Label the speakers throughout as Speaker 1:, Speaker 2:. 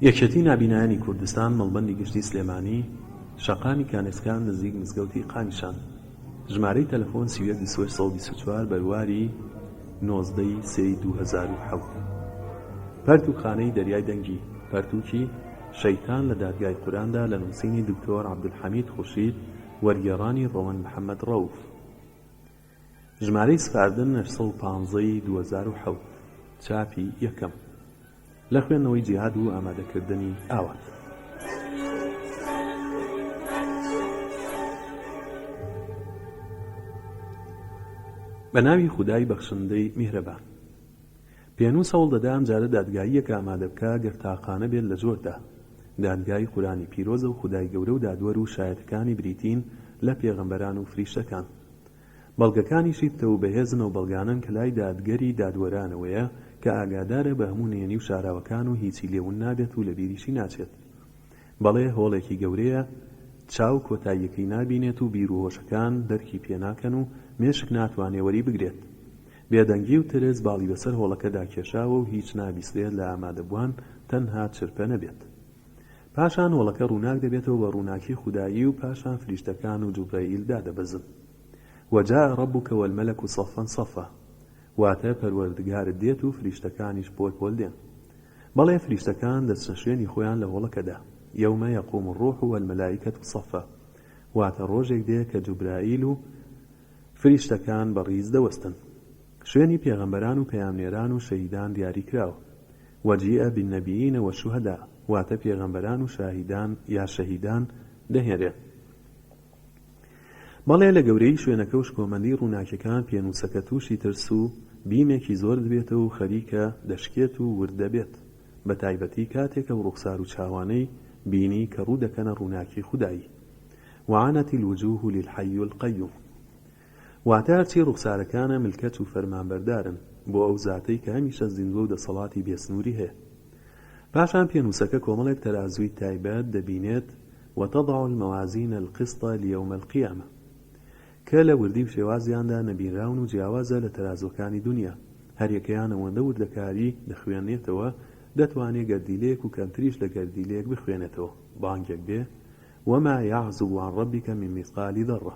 Speaker 1: یەکێتی نابینایانی کوردستان مەڵبەندی گشتی سلێمانی شەقامی کانێسکا نزیک مزگەوتی قامیشان ژمارەی تەلەفۆن، سی و یەک بیست و هەشت سەد و بیست و چوار، بەرواری نۆزدە ی سێ ی دوو هەزار و حەوت. پەرتووکخانەی دەریای دەنگی پەرتووکی، شەیتان لە دادگای قورئاندا لە نووسینی دکتۆر عەبدولحەمید خورشید وەرگێڕانی ڕەوەند محەمەد ڕەوف. ژمارەی سپاردن نەش سەد و پانزە ی دوو هەزار و حەوت چاپی یەکەم لە خوێندنەوەی جیهاد و ئامادەکردنی ئاوات. بە ناوی خودای بەخشندەی میهرەبان. پێنووس هەوڵ دەدا ئەمجارە دادگاییەک ئامادە بکا گەر تاقانە بێت لە زۆر دا. دادگای قورئانی پیرۆزە و خودای گەورە و دادوەر و شایەتەکانی بریتین لە پێغەمبەران و فریشتەکان. بەڵگەکانیشی پتەو و بەهێزن ئەو بەڵگانەن کە لای دادگەری دادوەرانەوەیە کە ئاگادارە بە هەموو نهێنی و شاراوەکان و هیچی لێ ون نابێت و لە بیریشی ناچێت بەڵێ هۆڵێکی گەورەیە چاو کۆتاییەکەی نابینێت و بیر و هۆشەکان دەرکی پێ ناکەن و مێشک ناتوانێ وەری بگرێت بێدەنگی و ترس باڵی بەسەر هۆڵەکەدا کێشاوە و هیچ نابیسرێت لە ئامادەبووان تەنها چرپە نەبێت. پاشان هۆڵەکە ڕووناک دەبێتەوە بە ڕووناکی خودایی و پاشان فریشتەکان و جوبرەئیل دادەبەزن. وجاء ربک والملک صفا صفا واتە پەروەردگارت دێت و فریشتەکانیش پۆل پۆل دێن. بەڵێ فریشتەکان دەچنە شوێنی خۆیان لە هۆڵەکەدا، یوم یقوم الروح والملائکە صفا، واتە ڕۆژێک دێ کە جوبرائیل و فریشتەکان بە ڕیز دەوەستن. شوێنی پێغەمبەران و پەیامنێران و شەهیدان دیاری کراوە. وجیء بالنبیین والشهداء واتە پێغەمبەران و شاهیدان یا شەهیدان دەهێنرێن. بەڵێ لە گەورەیی شوێنەکە و شکۆمەندی ڕووناکیەکان پێنووسەکە تووشی ترس و بیمێکی زۆر دبێتەوە و خەریکە دەشکێت و ورد دەبێت بە تایبەتی کاتێک ئەو ڕوخسار و چاوانەی بینی کە ڕوو دەکەنە ڕووناکی خودایی وعانت الوجوه للحی القیوم واتە هەرچی ڕوخسارەکانە ملکەچ و فەرمانبەردارن بۆ ئەو زاتەی کە هەمیشە زیندوە و دەسەڵاتی بێ سنوری هەیە. پاشان پێنوسەکە کۆمەڵێک تەرازوی تایبەت دەبینێت، وتضع الموازین القسط لیوم القیامە، کە لە وردی و شێوازیاندا نەبینراون و جیاوازە لە تەرازوەکانی دونیا، هەریەکەیان ئەوەندە وردەکاری دەخوێنێتەوە دەتوانێ گەردیلەیەک و کەمتریش لە گەردیلەیەک بخوێنێتەوە، بانگێک بێ، وما یعزب عن ربک من مثقال ذرە.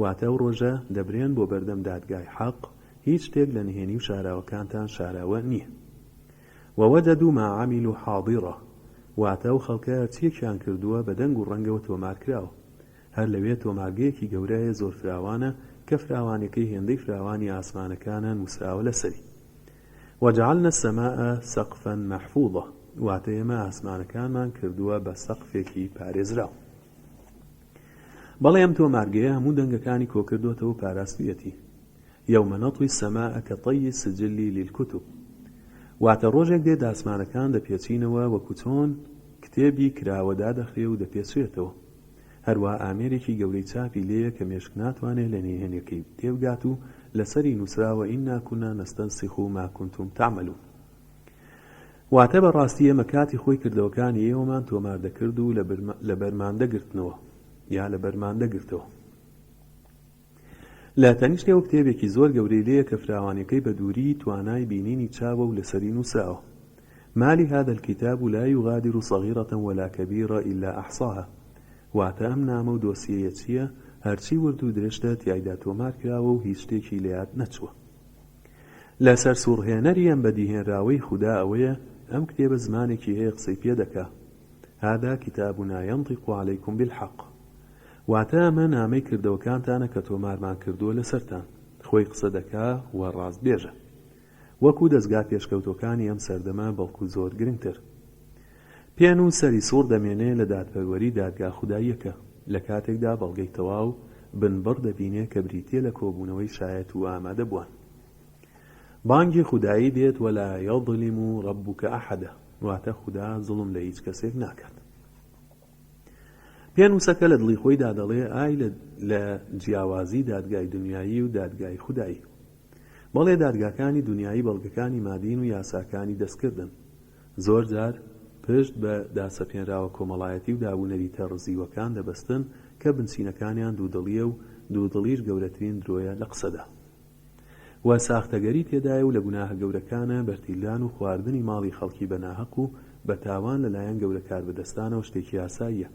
Speaker 1: واتە ئەو ڕۆژە دەبرێن بۆ بەردەم دادگای حەق، هیچ شتێک لە نهێنی و شاراوەکانتان شاراوە نییە. ووجدوا ما عملوا حاضرا، واتە ئەو خەڵکە هەرچییەکیان کردووە بە دەنگ و ڕەنگەوە تۆمار کراوە. هەر لەوێ تۆمارگەیەکی گەورە هەیە زۆر فراوانە کە فراوانیەکەی هێندەی فراوانی ئاسمانەکانە نووسراوە لەسەری. وجعلنا السماء سقفا محفوظا، واتە ئێمە ئاسمانەکانمان کردووە بە سەقفێکی پارێزراو. بەڵی ئەم تۆمارگەیە هەموو دەنگەکانی کۆکردۆتەوە و پاراستویەتی، یوم نطوی السماء کطی السجل للکتب، واتە ڕۆژێک دێت ئاسمانەکان دەپێچینەوە وەکو چۆن کتێبی کراوە دادەخرێ و دەپێچرێتەوە، هەروا ئامێرێکی گەورەی چاپی لێیە کە مێشک ناتوانێ لە نهێنیەکەی تێبگات و لەسەری نوسراوە انا کنا نستنسخ ما کنتم تعملون. واتە بە ڕاستی ئێمە کاتی خۆی کردەوەکانی ئێوەمان تۆمار دەکرد و لە بەرمان دەگرتنەوە یا لە بەرمان دەگرتەوە. لە تەنیشتەوە کتێبێکی زۆر گەورەی لێیە کە فراوانیەکەی بە دووریی توانای بینینی چاوە و لەسەری نووسراوە، ما لهذا الکتاب لا یغادر صغیرە ولا کبیرە الا احصاها، واتە ئەم نامە و دۆسیەیە چییە هەرچی ورد و درشتە تیایدا تۆمار کراوە و هیچ شتێکی لە یاد نەچووە. لە سەرسووڕهێنەری ئەم بەدیهێنراوەی خودا ئەوەیە ئەم کتێبە زمانێکی هەیە قسەی پێ دەکا، هذا کتابنا ینطق علیکم بالحق، واتە ئەمە نامەی کردەوەکانتانە کە تۆمارمان کردووە لەسەرتان، خۆی قسە دەکا و ڕاستبێژە. وەکوو دەزگا پێشکەوتووەکانی ئەم سەردەمە بەڵکوو زۆر گرنگتر. پێن و سەری سوڕ دەمێنێ لە دادپەروەری دادگا خوداییەکە، لە کاتێکدا بەڵگەی تەواو بنبڕ دەبینێ کە بریتییە لە کۆبوونەوەی شایەت و ئامادەبووان. بانگی خودایی دێت ولا یظلم ربک احدا، واتە خودا زوڵم لە هیچ کەسێک ناکات. پێن وسەکە لە دڵی خۆیدا دەڵێ ئای لە جیاوازی دادگای دونیایی و دادگای خودایی. بەڵێ دادگاکانی دونیایی بەڵگەکانی مادین و یاساکانی دەستکردن. زۆر جار پشت بە داسەپێنراوە کۆمەڵایەتی و دابونەریتە ڕزیوەکان دەبەستن کە بنچینەکانیان دوودڵییە و دوودڵیش گەورەترین درۆیە لە قسەدا و ساختەگەری تێدایە و لە گوناهە گەورەکانە بەرتیلدان و خواردنی ماڵی خەڵکی بە ناهەق و بە تاوان لە لایەن گەورە کاربەدەستانەوە شتێکی ئاساییە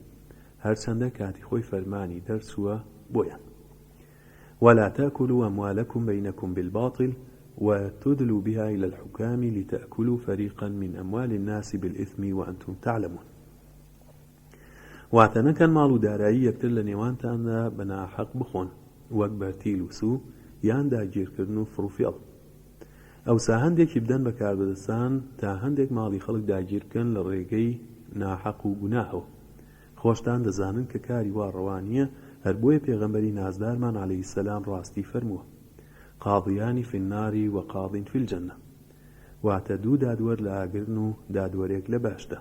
Speaker 1: هەرچەندە کاتی خۆی فەرمانی دەرچووە بۆیان ولا تاکلو اموالکم بینکم بالباطل و تدلو بها الی الحکام لتاکلو فریقا من اموال الناس بالاثم و انتم تعلمون واتە نەکەن ماڵ و دارایی یەکتر لە نێوانتاندا بە ناحەق بخۆن وەک بەرتیل و سو یان داگیرکردن و فڕوفێڵ ئەوسا هەندێکی بدەن بە کاربەدەستان تا هەندێک ماڵی خەڵک داگیر بکەن لە ڕێگەی ناحەق و گوناهەوە خۆشتان دەزانن کە کاری وا ڕەوا نییە، هەر بۆیە پێغەمبەری نازدارمان علیە سلام ڕاستی فەرمووە، قاضیان فی النار و قاض فی الجنە، واتە دوو دادوەر لە ئاگرن و دادوەرێک لە بەهشتە.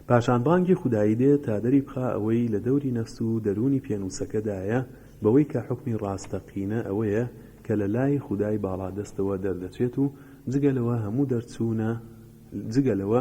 Speaker 1: پاشان بانگی خودایی دێت تا دەری بخا ئەوەی لە دەوری نەفس و دەروونی پێنووسەکەدایە بەوەی کە حوکمی ڕاستەقینە ئەوەیە کە لە لای خودای باڵادەستەوە دەردەچێت و جگە لەوە هەموو دەرچوونە جگە لەوە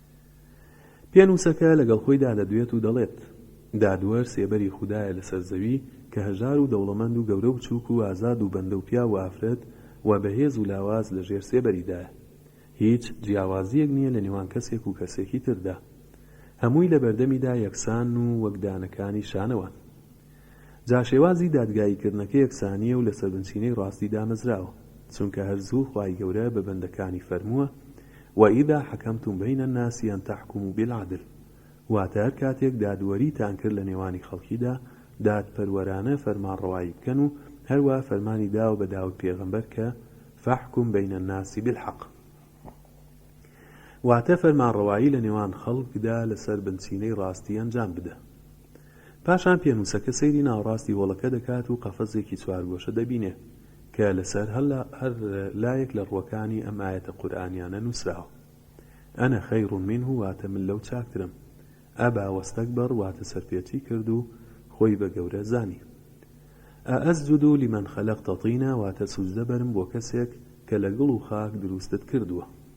Speaker 1: پێنووسەکە لەگەڵ خۆی دادەدوێت و دەڵێت، دادوەر سێبەری خودایە لەسەر زەوی کە هەژار و دەوڵەمەند و گەورە و بچووک و ئازاد و بەندە و پیاو و ئافرەت و بەهێز و لاواز لە ژێر سێبەریدایە. هیچ جیاوازییەک نییە لە نێوان کەسێک و کەسێکی تردا. هەمووی لە بەردەمیدا یەکسانن و وەک دانەکانی شانەوەن. جا شێوازی دادگایی کردنەکە یەکسانیە و لەسەر بنچینەی ڕاستی دامەزراوە چونکە هەر زوو خوای گەورە بە بەندەکانی فەرمووە وإذا حکمتم بین الناس ان تحکموا بالعدل واتە هەر کاتێک دادوەریتان کرد لە نێوانی خەڵکیدا دادپەروەرانە فەرمانڕەوایی بکەن و هەروا فەرمانی داوە بە داود پێغەمبەر کە فاحکم بین الناس بالحق واتە فەرمانڕەوایی لە نێوان خەڵکدا لەسەر بنچینەی ڕاستی ئەنجام بدە. پاشان پێنووسەکە سەیری ناوەڕاستی هۆڵەکە دەکات و قەفەزێکی چوارگۆشە دەبینێ کە لەسەر هەر لایەک لە ڕووەکانی ئەم ئایەتە قورئانیانە نووسراوە، انا خیر منه واتە من لەو چاکترم، ابا واستکبر واتە سەرپێچی کرد و خۆی بە گەورە زانی. ااسجد لمن خلقت طینا واتە سوجدە بەرم بۆ کەسێک کە لە گڵ و خاک دروستت کردووە.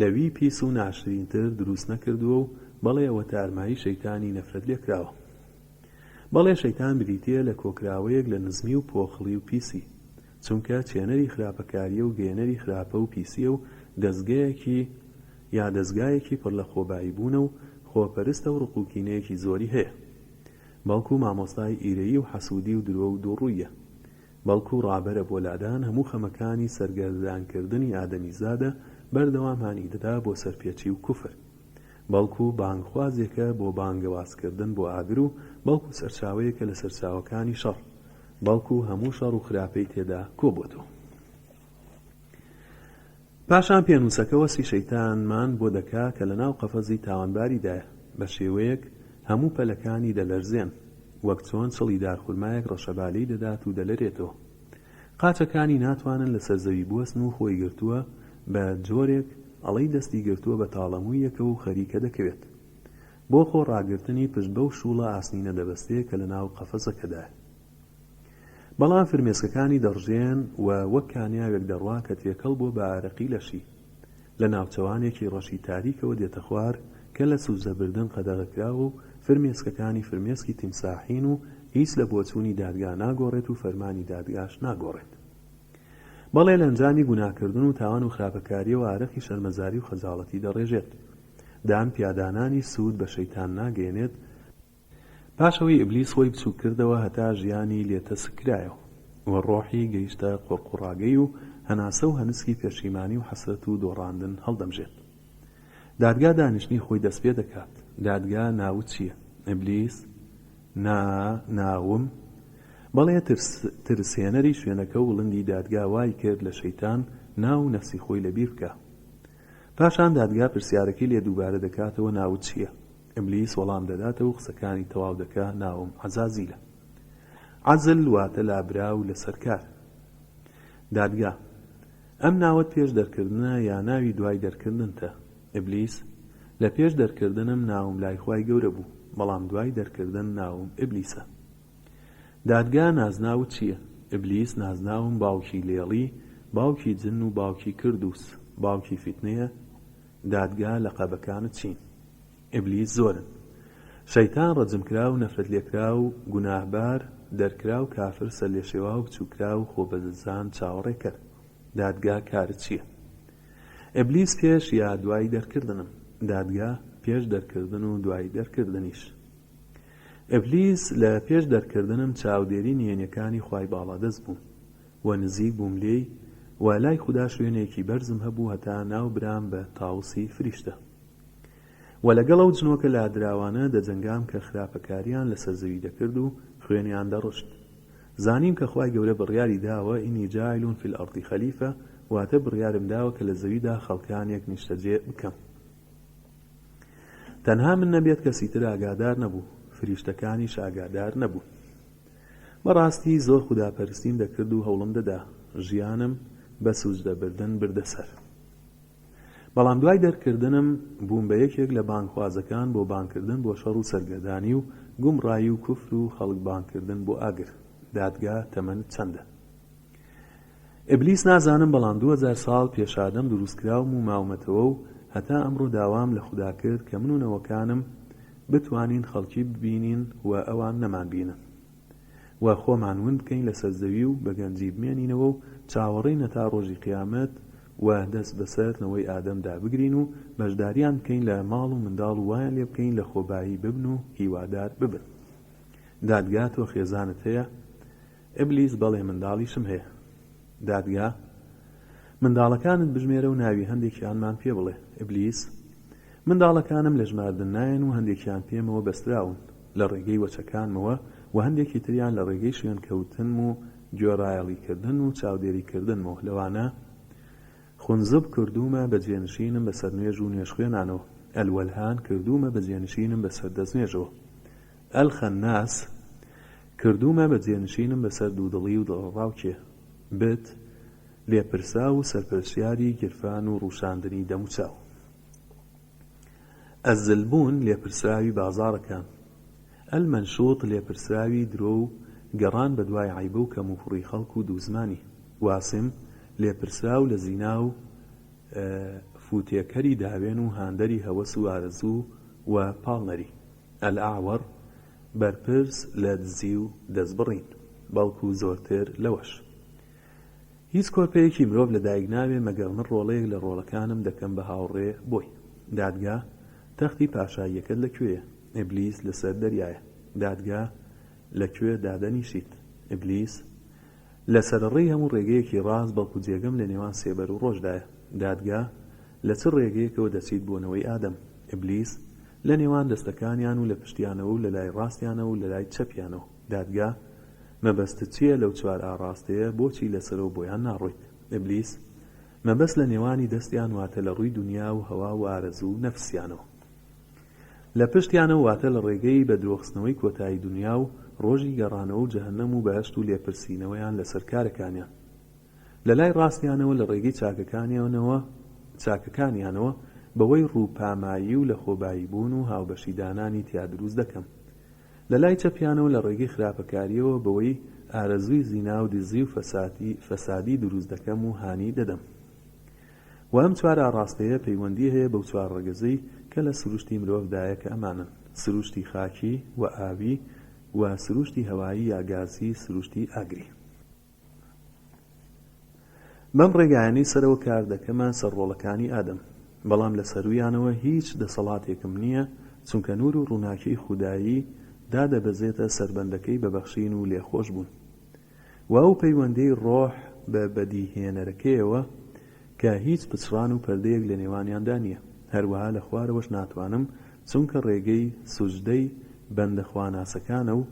Speaker 1: لەوی پیس و ناشرین تر دروست نەکردووە و بەڵێ ئەوە تارمایی شەیتانی نەفرەت لێکراوە بەڵێ شەیتان بریتیە لە کۆکراوەیەک لە نزمی و پۆخڵی و پیسی چونکە چێنەری خراپەکاریە و گەیەنەری خراپە و پیسیە و دەزگەیەکی یا دەزگایەکی پڕ لە خۆبایی بوونە و خۆپەرستە و ڕق و کینەیەکی زۆری هەیە بەڵکو مامۆستای ئیرەیی و حەسودی و درۆ و دووڕوییە بەڵکو ڕابەرە بۆ لادان هەموو خەمەکانی سەرگەردانکردنی ئادەمیزادە، بەردەوام هانی دەدا بۆ سەرپێچی و کوفر. بەڵکو بانگخوازێکە بۆ بانگەوازکردن بۆ ئاگر و بەڵکو سەرچاوەیەکە لە سەرچاوەکانی شەڕ. بەڵکو هەموو شەڕ و خراپەی تێدا کۆبۆتەوە. پاشان پێنووسەکە وەسفی شەیتانمان بۆ دەکا کە لە ناو قەفەزی تاوانباریدایە بە شێوەیەک هەموو پەلەکانی دەلەرزێن وەک چۆن چڵی دار خورمایەک ڕەشەبا لێی دەدات و دەلەرێتەوە قاچەکانی ناتوانن لە سەر زەوی بوەستن و خۆی گرتووە بە جۆرێک ئەڵێی دەستی گرتووە بە تاڵەموویەکەوە و خەریکە دەکەوێت بۆ خۆ ڕاگرتنی پشت بەو شووڵە ئاسنینە دەبەستێ کە لە ناو قەفەزەکەدایە. بەڵام فرمێسکەکانی دەڕژێن و وەک کانیاوێک دەڕوا کە تێکەڵ بووە بە ئارەقی لەشی. لە ناوچەوانێکی ڕەشی تاریکەوە دێتە خوار کە لە سوزە بردن قەدەغەکراوە و فرمێسکەکانی فرمێسکی تیمساحین و هیچ لە بۆچوونی دادگا ناگۆڕێت و فەرمانی دادگاش ناگۆڕێت. بەڵێ لە ئەنجامی گوناکردن و تاوان و خراپەکارییەوە ئارەقی شەرمەزاری و خەجاڵەتی دەڕێژێت. دان پیادانانی سوود بە شەیتان ناگەیەنێت، پاش ئەوەی ئیبلیس خۆی بچووک کردەوە هەتا ژیانی لێ تەسک کرایەوە و ڕۆحی گەیشتە قوڕقوڕاگەی و هەناسە و هەنسکی پێشیمانی و حەسرەت و دۆڕاندن هەڵدەمژێت دادگا دانیشتنی خۆی دەست پێ دەکات دادگا ناوت چییە؟ ئیبلیس، نا، ناوم، بەڵێ ترس، ترسێنەری شوێنەکە وڵندی دادگا وای کرد لە شەیتان ناو و نەفسی خۆی لەبیر بکا پاشان دادگا پرسیارەکەی لێ دووبارە دەکاتەوە ناوت چییە؟ ئبلیس وەڵام دەداتەوە و قسەکانی تەواو دەکا، ناوم عەزازیلە. عەزل واتە لابراو لەسەر کار. دادگا، ئەم ناوەت پێش دەرکردنە یا ناوی دوای دەرکردنتە؟ ئبلیس، لە پێش دەرکردنم ناوم لای خوای گەورە بوو، بەڵام دوای دەرکردن ناوم ئبلیسە. دادگا، نازناوت چییە؟ ئبلیس، نازناوم باوکی لێڵی، باوکی جن و باوکی کردوس، باوکی فیتنەیە، دادگا لەقەبەکانت چین ئیبلیس زۆرن شەیتان ڕەجمکراو نەفرەتلێکراو گوناهبار دەرکراو کافر سەرلێشێواو بچوککراو خۆبەزلزان چاوەڕێکەر دادگا کارت چیە ئیبلیس پێش یا دوای دەرکردنم دادگا پێش دەرکردن و دوای دەرکردنیش ئیبلیس لە پێش دەرکردنم چاودێری نهێنیەکانی خوای باڵادەست بوو و نزیک بووم لێی و لای خودا شوێنێکی بەرزم هەبوو هەتا ناوبرام بە تاوسی فریشتە و لەگەڵ ئەو جنۆکە لادراوانە دەجەنگام کە خراپەکاریان لەسەر زەوی دەکرد و خوێنیان دەڕشت زانیم کە خوای گەورە بڕیاری داوە انی جاعل فی الارض خلیفە واتە بڕیارم داوە کە لە زەویدا خەڵکانێک نیشتەجێ بکەم تەنها من نەبێت کەسی تر ئاگادار نەبوو فریشتەکانیش ئاگادار نەبوون بەڕاستی زۆر خوداپەرستیم دەکرد و هەوڵم دەدا ژیانم بە سوجدە بردن بردە سەر بەڵام دوای دەرکردنم بووم بە یەکێک لە بانگخوازەکان بۆ بانگکردن بۆ شەڕ و سەرگەردانی و گومڕایی و کوفر و خەڵک بانگکردن بۆ ئاگر دادگا تەمەنت چەندە؟ ئیبلیس نازانم بەڵام دوو هەزار ساڵ پێش ئادەم دروست کراوم و ماومەتەوە و هەتا ئەمڕۆ داوام لە خودا کرد کە من و نەوەکانم بتوانین خەڵکی ببینین و ئەوان نەمانبینن و خۆمان ون بکەین لەسەر زەوی و بە گەنجی بمێنینەوە و چاوەڕێین هەتا ڕۆژی قیامەت و دەست بەسەر نەوەی ئادەمدا بگرین و بەشداریان بکەین لە ماڵ و منداڵ و وایان لێ بکەین لە خۆبایی ببن و هیوادار ببن دادگا تۆ خێزانت هەیە ئیبلیس، بەڵێ منداڵیشم هەیە. دادگا، منداڵەکانت بژمێرە و ناوی هەندێکیانمان پێ بڵێ. ئیبلیس، منداڵەکانم لە ژماردن نایەن و هەندێکیان پێمەوە بەستراون لە ڕێگەی وەچەکانمەوە و هەندێکی تریان لە ڕێگەی شوێنکەوتنم و گوێڕایەڵیکردن و چاودێریکردنمەوە لەوانە خونزب کردوومە بە جێنشینم بەسەر نوێژ و نوێژخوێنانەوە، ئەلوەلهان کردوومە بە جێنشینم بەسەر دەستنوێژەوە. ئەلخەنناس، کردوومە بە جێنشینم بەسەر دوودڵی و دڵەڕاوکێ. بت، لێپرساو و سەرپەرشتیاری گیرفان و ڕووشاندنی دەموچاو. ئەلزلبون، لێپرسراوی بازاڕەکان. ئەلمەنشوط، لێپرسراوی درۆ و گەڕان بەدوای عەیبە و کەموکوڕی خەڵک و دووزمانی. واسم، لێپرسراو لە زینا و فووتێکەری داوێن و هاندەری هەوەس و ئارەزوو و پاڵنەری. الاعور، بەرپرس لە دزی و دەستبڕین، بەڵکو زۆرتر لەوەش. هیچ کۆرپەیەکی مرۆڤ لە دایک نابێ مەگەر من ڕۆڵەیەک لە ڕۆڵەکانم دەکەم بە هاوڕێ بۆی. دادگا، تەختی پاشاییەکەت لە کوێیە؟ ئیبلیس، لەسەر دەریایە. دادگا، لە کوێ دادەنیشیت؟ ئیبلیس، لە سەرەڕێی هەموو ڕێگەیەکی ڕاست، بەڵکو جێگەم لە نێوان سێبەر و ڕۆژدایە. دادگا، لە چ ڕێگەیەکەوە دەچیت بۆ نەوەی ئادەم؟ ئیبلیس، لە نێوان دەستەکانیان و لە پشتیانەوە و لە لای ڕاستیانەوە و لە لای چەپیانەوە. دادگا، مەبەستت چییە لەو چوار ئاڕاستەیە، بۆچی لەسەرەوە بۆیان ناڕۆیت؟ ئیبلیس، مەبەست لە نێوانی دەستیان واتە لە ڕووی دونیا و هەوا و ئارەزوو و نەفسیانەوە. لە پشتیانەو واتە لە ڕێگەی بە درۆخستنەوەی کۆتایی دونیا و ڕۆژی گەڕانەوە و جەهەنەم و بەهەشت و لێپرسینەوەیان لەسەر کارەکانیان لە لای ڕاستیانەوە لە ڕێگەی چاکەکانیانەوە چاکەکانیانەوە بەوەی ڕوو پامایی و لەخۆبایی بوون و هاوبەشی دانانی تیا دروست دەکەم لە لای چەپیانەوە لە ڕێگەی خراپەکاریەوە بەوەی ئارەزووی زینا و دزی و فەسادی فەسادی دروست دەکەم و هانی دەدەم وە ئەم چوار ئاڕاستەیە پەیوەندی هەیە بەو چوار ڕەگەزەی کە لە سروشتی مرۆڤدایە کە ئەمانەن، سروشتی خاکی و ئاوی و سروشتی هەوایی یا گازی سروشتی ئاگری. بەم ڕێگایانەی سەرەوە کار دەکەمە سەر ڕۆڵەکانی ئادەم، بەڵام لە سەروویانەوە هیچ دەسەڵاتێکم نییە، چونکە نوور و ڕووناکیی خودایی دادەبەزێتە سەر بەندەکەی بە بەخشین و لێخۆشبوون. و ئەو پەیوەندیەی ڕۆح بە بەدیهێنەرەکەیەوە کە هیچ پچڕان و پەردەیەک لە نێوانیاندا نیە، هەروەها لە خوارەوەش ناتوانم چونکە ڕێگەی سوجدەی بەندە خواناسەکانە و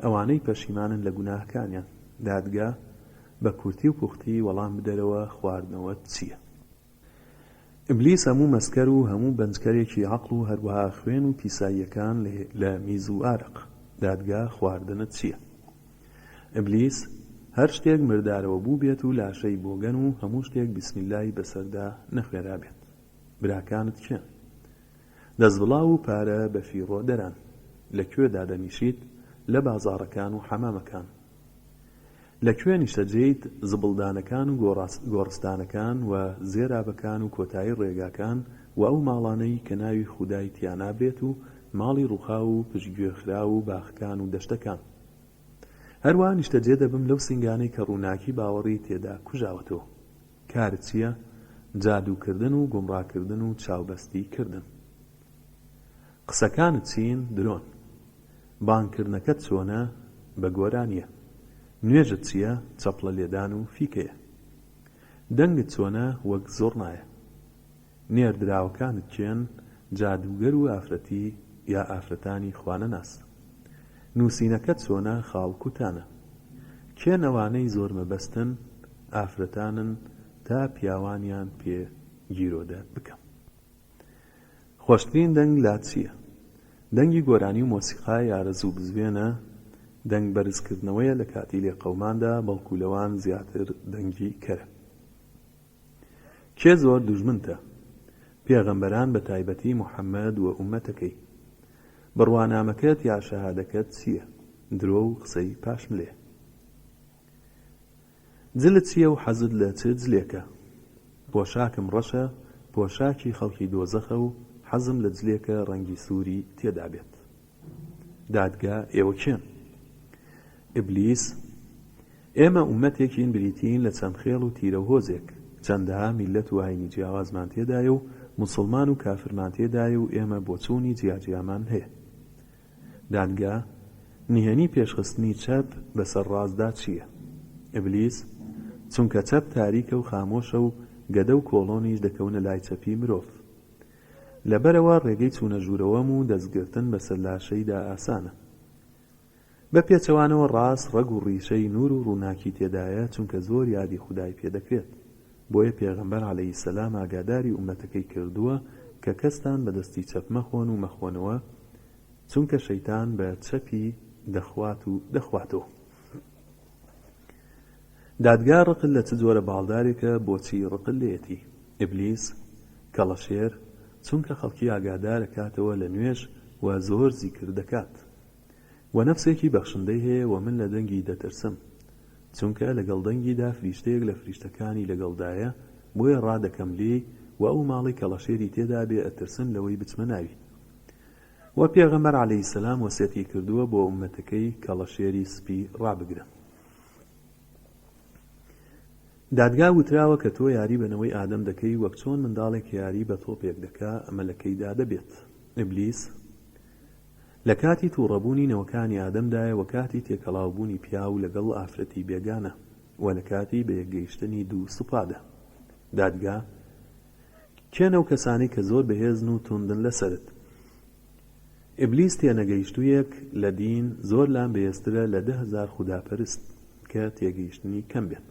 Speaker 1: ئەوانەی پەشیمانن لە گوناهەکانیان. دادگا، بە کورتی و پوختی وەڵام بدەرەوە خواردنەوەت چیە؟ ئیبلیس هەموو مەسکەر و هەموو بەنجکەرێکی عەقڵ و هەروەها خوێن و پیساییەکان لە میز و ئارەق، دادگا، خواردنت چییە؟ ئیبلیس هەر شتێک مردارەوە بووبێت و لاشەی بۆگەن و هەموو شتێک بسم اللە ی بەسەردا نەخوێنرابێت براکانت کێن؟ دەستبڵاو و پارە بە فیڕۆ دەران لە کوێ دادەنیشیت لە بازاڕەکان و حەمامەکان؟ لە کوێ نیشتەجێیت زبڵدانەکان و گۆڕستانەکان و زێرابەکان و کۆتایی ڕێگاکان و ئەو ماڵانەی کە ناوی خودای تیا نابرێت و ماڵی ڕوخاو و پشتگوێخراو و باخەکان و دەشتەکان هەروا نیشتەجێ دەبم لەو سینگانەی کە ڕووناکی باوەڕی تێدا کوژاوە تۆ کارت چیە جادووکردن و گومڕاکردن و چاوبەستی کردن. قسەکانت چین درۆن. بانگ کردنەکەت چۆنە بە گۆرانیە نوێژت چیە چەپڵە لێدان و فیکەیە دەنگت چۆنە وەک زۆڕنایە نێردراوەکانت کێن جادووگەر و ئافرەتی یا ئافرەتانی خوانەناس نوسینەکەت چۆنە خاڵ کوتانە کێن ئەوانەی زۆر مەبەستن ئافرەتانن تا پیاوانیان پێ گیرۆدە بکەم. خۆشترین دەنگ لات چیە؟ دەنگی گۆرانی و مۆسیقای ئارەزوو بزوێنە دەنگ بەرز کردنەوەیە لە کاتی لێقەوماندا بەڵکو لەوان زیاتر دەنگی کەرە کێ زۆر دوژمنتە پێغەمبەران بە تایبەتی محمد و ئومەتەکەی بڕوانامەکەت یا شەهادەکەت چیە درۆ و قسەی پاشملێ. جلت چیە و حەزت لە چ جلێکە؟ پۆشاکم ڕەشە، پۆشاکی خەڵکی دۆزەخە و حەزم لە جلێکە ڕەنگی سووری تێدا بێت. دادگا، ئێوە کێن؟ ئیبلیس، ئێمە ئوممەتێکین بریتیین لە چەند خێڵ و تیرە و هۆزێک، چەندەها میللەت و ئاینی جیاوازمان تێدایە و موسڵمان و کافرمان تێدایە و ئێمە بۆچوونی جیاجیامان هەیە. دادگا، نهێنی پێشخستنی چەپ بەسەر ڕاستدا چییە؟ ئیبلیس، چونکە چەپ تاریکە و خامۆشە و گەدە و کۆڵۆنیش دەکەونە لای چەپی مرۆڤ. لەبەرئەوە ڕێگەی چوونە ژوورەوەم و دەستگرتن بەسەر لاشەیدا ئاسانە. بە پێچەوانەوە ڕاست ڕەگ و ڕیشەی نوور و ڕووناکی تێدایە چونکە زۆر یادی خودای پێدەکرێت. بۆیە پێغەمبەر علیە السلام ئاگاداری ئوممەتەکەی کردووە کە کەستان بە دەستی چەپ مەخۆن و مەخۆنەوە چونکە شەیتان بە چەپی دەخوات و دەخواتەوە. دادگا ڕقل لە چ جۆرە باڵدارێکە بۆچی ڕقل لێیەتی؟ ئیبلیس، کەڵەشێر، چونکە خەڵکی ئاگادارەکاتەوە لە نوێژ و زۆر زیکر دەکات. وە نەفسێکی بەخشندەی هەیە وە من لە دەنگی دەترسم چونکە لەگەڵ دەنگیدا فریشتەیەک لە فریشتەکانی لەگەڵدایە بۆیە ڕادەکەم لێی وە ئەو ماڵەی کەڵەشێری تێدابێ ئەترسم لەوەی بچمە ناوی وە پێغەمبەر علیە سلام وەسێتی کردووە بۆ ئومەتەکەی کەڵەشێری سپی ڕابگرن. دادگا وتراوە کە تۆ یاری بە نەوەی ئادەم دەکەی وەک چۆن منداڵێک یاری بە تۆپێک دەکا ئەمە لە کەیدا دەبێت ئیبلیس، لە کاتی تووڕەبوونی نەوەکانی ئادەمدایە و کاتی تێکەڵاوبوونی پیاو لەگەڵ ئافرەتی بێگانە و لە کاتی بەیەکگەیشتنی دوو سوپادا. دادگا، کێن ئەو کەسانەی کە زۆر بەهێزن و توندن لەسەرت؟ ئیبلیس تێنەگەیشتوویەک لە دین زۆر لام بەهێزترە لە دە هەزار خوداپەرست کە تێگەیشتنی کەم بێت.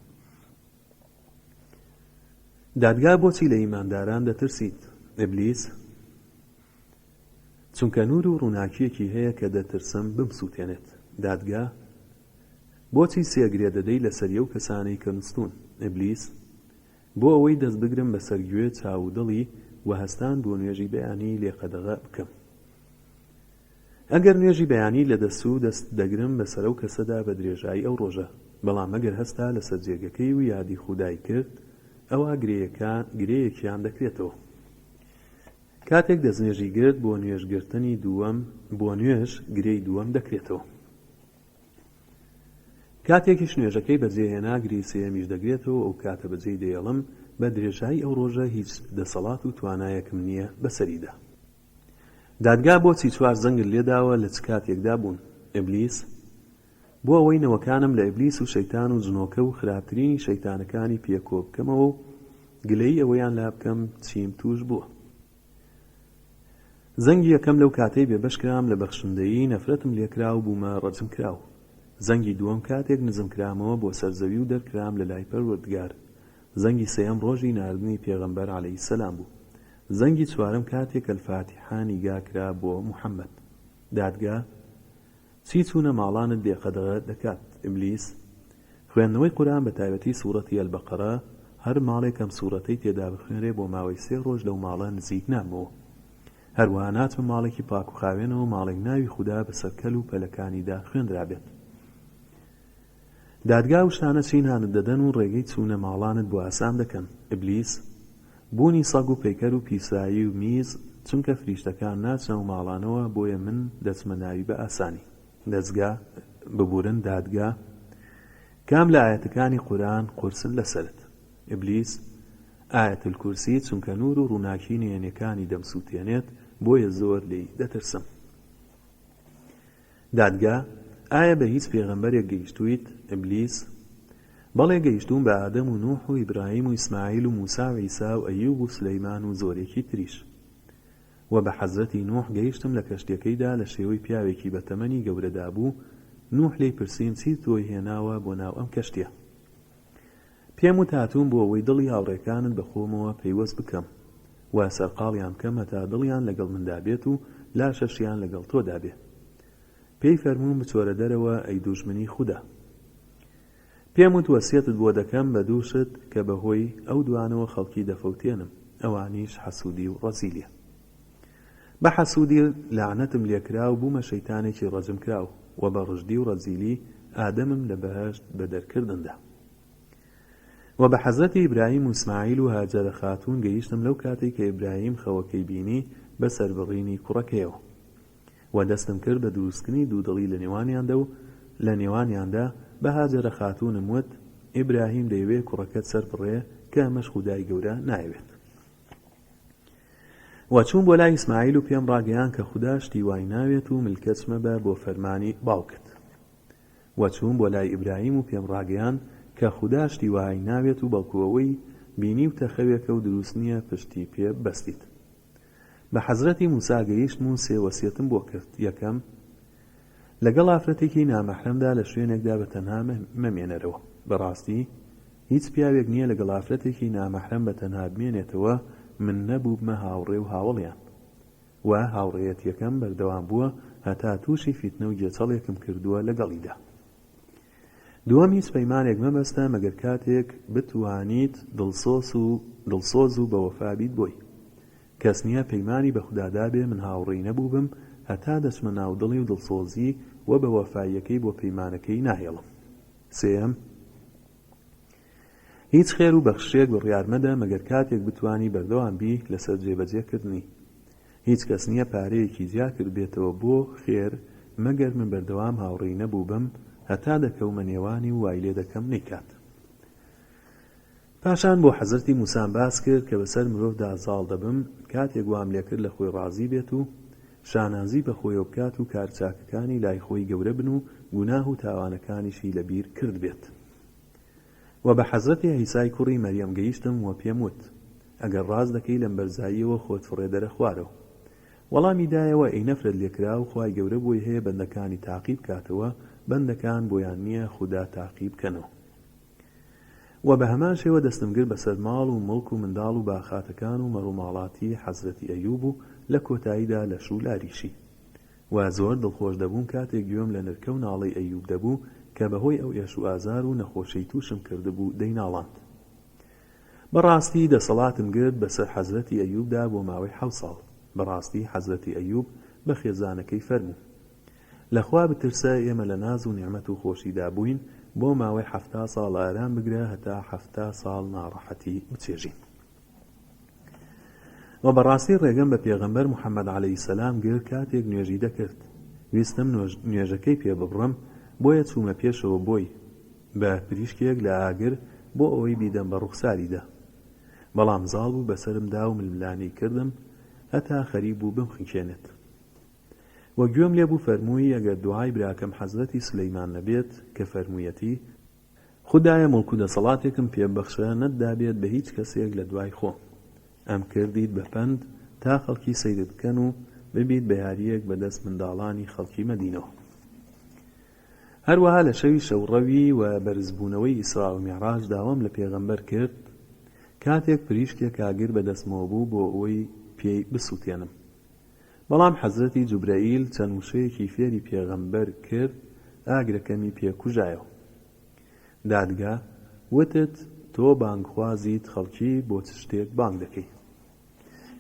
Speaker 1: دادگا، بۆچی لە ئیمانداران دەترسیت؟ ئیبلیس، چونکە نور و ڕوناکیەکی هەیە کە دەترسم بمسوتێنێت دادگا بۆچی سێ گرێ دەدەی لەسەری ئەو کەسانەی کە نوستون ابلیس بۆ ئەوەی دەست بگرم بەسەر گوێ چاو و دڵی وە هەستان بۆ نوێژی بەیانی لێ قەدەغە بکەم ئەگەر نوێژی بەیانی لە دەسو دەست دەگرم بەسەر ئەو کەسەدا بە درێژایی ئەو ڕۆژە بەڵام ئەگەر هەستا لەسەر جێگەکەی و یادی خودای کرد ئەوا گرێیەکان گرێیەکیان دەکرێتەوە. کاتێک دەستنوێژی گرت بۆ نوێژ گرتنی دووەم بۆ نوێژ گرێی دووەم دەکرێتەوە کاتێکیش نوێژەکەی بەجێ هێنا گرێی سێیەمیش دەگرێتەوە ئەو کاتە بەجێی دەیڵم بە درێژایی ئەو ڕۆژە هیچ دەسەڵات و توانایەکم نییە بەسەریدا دادگا بۆچی چوار زەنگت لێداوە لە چ کاتێکدا بوون ئیبلیس بۆ ئەوەی نەوەکانم لە ئیبلیس و شەیتان و جنۆکە و خراپترینی شەیتانەکانی پێ کۆ بکەمەوە و گلەیی ئەوەیان لا بکەم چیم تووش بووە. زەنگی یەکەم لەو کاتەی بێبەش کرام لە بەخشندەیی نەفرەتم لێ کرا و بوومە ڕەجم کراو. زەنگی دووەم کاتێک نزم کرامەوە بۆ سەر زەوی و دەرکرام لە لای پەروەردگار. زەنگی سێیەم ڕۆژی ناردنی پێغەمبەر علیە السلام بوو. زەنگی چوارەم کاتێک الفاتحە نیگا کرا بۆ محمد. دادگا، چی چوونە ماڵانت بێ قەدەغە دەکات ئیبلیس؟ خوێندنەوەی قورئان بە تایبەتی سورەتی البقرە هەر ماڵێک ئەم سورەتەی تێدا بخوێنرێ بۆ ماوەی سێ ڕۆژ لەو ماڵە نزیک نابمەوە هەروەها ناچمە ماڵێکی پاک و خاوێنەوە ماڵێک ناوی خودا بەسەر کەل و پەلەکانیدا خوێندرابێت دادگا و شتانە چین هانت دەدەن و ڕێگەی چوونە ماڵانت بۆ ئاسان دەکەن، ئیبلیس، بوونی سەگ و پەیکەر و پیسایی و میز چونکە فریشتەکان ناچنە ئەو ماڵانەوە بۆیە من دەچمە ناوی بە ئاسانی. دەزگا، ببورن دادگا، کام لە ئایەتەکانی قورئان قورسن لەسەرت، ئیبلیس، ئایەت الکرسی چونکە نور و ڕووناکی نهێنیەکانی دەمسوتێنێت بۆیە زۆر لێی دەترسم. دادگا، ئایا بە هیچ پێغەمبەرێک گەیشتوویت؟ ئیبلیس، بەڵێ گەیشتووم بە ئادەم و نوح و ئیبراهیم و ئیسماعیل و موسا و عیسا و ئەیوب و سولەیمان و زۆرێکی تریش. وە بە حەزرەتی نوح گەیشتم لە کەشتیەکەیدا لە شێوەی پیاوێکی بە تەمەنی گەورەدابوو، نوح لێی پرسیم چیت بۆی هێناوە بۆ ناو ئەم کەشتیە؟ پێم وت هاتووم بۆ ئەوەی دڵی هاوڕێکانت بە خۆمەوە پەیوەست بکەم و سەرقاڵیان بکەم هەتا دڵیان لەگەڵ مندا بێت و لاشەشیان لەگەڵ تۆدا بێ. پێی فەرمووم بچۆرە دەرەوە ئەی دوژمنی خودا. پێم وت وەسیەتت بۆ دەکەم بە دوو شت کە بە هۆی ئەو دوانەوە خەڵکی دەفەوتێنم، ئەوانیش حەسوودی و ڕەزیلیە. بە حەسوودی لەعنەتم لێ کرا و بوومە شەیتانێکی ڕەجم کراو، وە بە ڕژدی و ڕەزیلی ئادەمم لە بەهەشت بەدەر کردندا. وە بە حەزرەتی ئیبراهیم و ئیسماعیل و هاجەرە خاتوون گەیشتم لەو کاتەی کە ئیبراهیم خەوەکەی بینی بە سەربڕینی کوڕەکەیەوە وە دەستم کرد بە دروستکردنی دوودڵی لە نێوانیاندا و لە نێوانیاندا بە هاجەرە خاتوونم وت ئیبراهیم دەیەوێت کوڕەکەت سەربڕێ کە ئەمەش خودای گەورە نایەوێت وە چووم بۆ لای ئیسماعیل و پێم ڕاگەیاند کە خودا شتی وای ناوێت و ملکەچ مەبە بۆ فەرمانی باوکت و چووم بۆ لای ئیبراهیم و پێم ڕاگەیاند کە خودا شتی وەهای ناوێت و بەڵکو ئەوەی بینیوتە خەوێکە و دروست نییە پشتی پێ بەستیت بە حەزرەتی موسا گەیشتم و سێ وەسیەتم بۆ کرد یەکەم لەگەڵ ئافرەتێکی نامەحرەمدا لە شوێنێکدا بە تەنها مەمێنەرەوە بەڕاستی هیچ پیاوێک نییە لەگەڵ ئافرەتێکی نامەحرەم بە تەنها بمێنێتەوە من نەبووبمە هاوڕێ و هاوەڵیان و هاوڕێیەتیەکەم بەردەوام بووە هەتا توشی فیتنە و گێچەڵێکم کردووە لەگەڵیدا دووەم هیچ پەیمانێک مەبەستە مەگەر کاتێک بتوانیت دڵسۆس و دڵسۆز و بەوەفا بیت بۆی کەس نیە پەیمانی بە خودا دابێ من هاوڕێی نەبووبم هەتا دەچمە ناو دڵی و دڵسۆزی و بەوەفاییەکەی بۆ پەیمانەکەی ناهێڵم سێیەم هیچ خێر و بەخششێک بڕیار مەدە مەگەر کاتێک بتوانی بەردەوام بی لەسەر جێبەجێ کردنی. هیچ کەس نیە پارەیەکی جیا کردبێتەوە بۆ خێر مەگەر من بەردەوام هاوڕێی نەبووبم هەتا دەکەومە نێوانی و وای لێ دەکەم نەیکات. پاشان بۆ حەزرەتی موسام باس کرد کە بەسەر مرۆڤدا زاڵ دەبم کاتێک وام لێ کرد لە خۆی ڕازی بێت و شانازی بە خۆیەوە بکات و کار چاکەکانی لای خۆی گەورە بن و گوناه و تاوانەکانیشی لە بیر کردبێت. وە بە حەزرەتی عیسای کوڕی مەریەم گەیشتم وە پێم وت ئەگەر ڕاست دەکەی لەم بەرزاییەوە خۆت فڕێدەرە خوارەوە وەڵامی دایەوە ئەی نەفرەت لێکراو خوای گەورە بۆی هەیە بەندەکانی تاقی بکاتەوە بەندەکان بۆیان نیە خودا تاقی بکەنەوە وە بە هەمان شێوە دەستم گرت بەسەر ماڵ و موڵک و منداڵ و باخاتەکان و مەڕوماڵاتی حەزرەتی ئەیوب و لە کۆتاییدا لەش و لاریشی و زۆر دڵخۆش دەبووم کاتێک گوێم لە نرکە و ناڵەی ئەیوب دەبوو کە بەهۆی ئەو ئێش و ئازار و نەخۆشیەی توشم کردبوو دەیناڵاند بەڕاستی دەسەڵاتم گرت بەسەر حەزرەتی ئەیوبدا بۆ ماوەی حەوت ساڵ بەڕاستی حەزرەتی ئەیوب بە خێزانەکەی فەرموو لە خوا بترسە ئێمە لە ناز و نیعمەت و خۆشیدا بووین بۆ ماوەی حەفتا ساڵ ئارام بگرە هەتا حەفتا ساڵ ناڕەحەتی بچێژین. وە بەڕاستی ڕێگەم بە پێغەمبەر محمد علیە السلام گرت کاتێک نوێژی دەکرد ویستم نوێژەکەی پێ ببڕم بۆیە چوومە پێشەوە بۆی بە پریشکێک لە ئاگر بۆ ئەوەی بیدەم بە ڕوخساریدا بەڵام زاڵ بوو بەسەرم دا و ململانێی کردم هەتا خەریک بوو بمخنکێنێت وە گوێم لێ بوو فەرمووی ئەگەر دوعای براکەم حەزرەتی سلیمان نەبێت کە فەرموویەتی خودایە موڵک و دەسەڵاتێکم پێ ببەخشە نەتدابێت بە هیچ کەسێک لە دوای خۆم. ئەم کردیت بە پەند تا خەڵکی سەیرت بکەن و ببیت بە یارییەک بە دەست منداڵانی خەڵکی مەدینەوە. هەروەها لە شەوی شەوڕەوی و بەرزبوونەوەی ئیسراء و میعراج داوام لە پێغەمبەر کرد کاتێک پریشکێکا گر بە دەستمەوە بوو بۆ ئەوەی پێی بسووتێنم. بەڵام حەزرەتی جوبرەئیل چەند وشەیەکی فێری پێغەمبەر کرد ئاگرەکەمی پێ کوژایەوە دادگا وتت تۆ بانگخوازیت خەڵکی بۆ چ شتێک بانگ دەکەی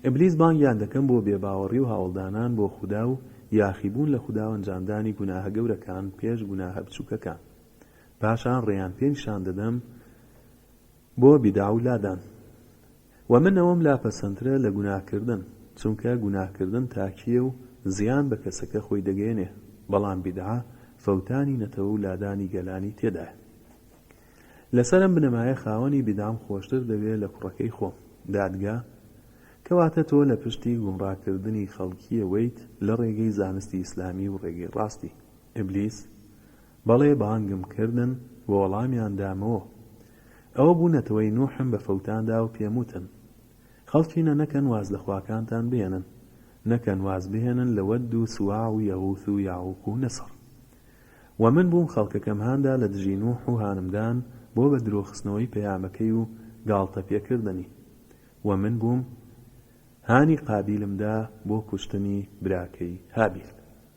Speaker 1: ئیبلیس بانگیان دەکەم بۆ بێ باوەڕی و هاوڵدانان بۆ خودا و یاخی بوون لە خودا و ئەنجامدانی گوناهە گەورەکان پێش گوناهە بچوکەکان پاشان ڕێیان پێ نیشان دەدەم بۆ بیدعە و لادان وە من ئەوەم لا پەسەندترە لە گوناهکردن چونکە گوناهکردن تاکییە و زیان بە کەسەکە خۆی دەگەیەنێ بەڵام بیدعە فەوتانی نەتەوە و لادانی گەلانی تێدایە لەسەر ئەم بنەمایە خاوەنی بیدعەم خۆشتر دەوێ لە کوڕەکەی خۆم دادگا کەواتە تۆ لە پشتی گومڕاکردنی خەڵکییەوەیت لە ڕێگەی زانستی ئیسلامی و ڕێگەی ڕاستی ئیبلیس بەڵێ بانگم کردن و وەڵامیان دامەوە ئەوە بوو نەتەوەی نوحم بە فەوتان دا و پێم وتن، خەڵکینە نەکەن واز لە خواکانتان بهێنن، نەکەن واز بهێنن لە وەد و سواع و یەغوث و یەعوق و نەسڕ. وە من بووم خەڵکەکەم هاندا لە دژی نوح و هانمدان بۆ بە درۆ خستنەوەی پەیامەکەی و گاڵتە پێ کردنی. وە من بووم هانی قابیلم دا بۆ کوشتنی براکەی هابیل.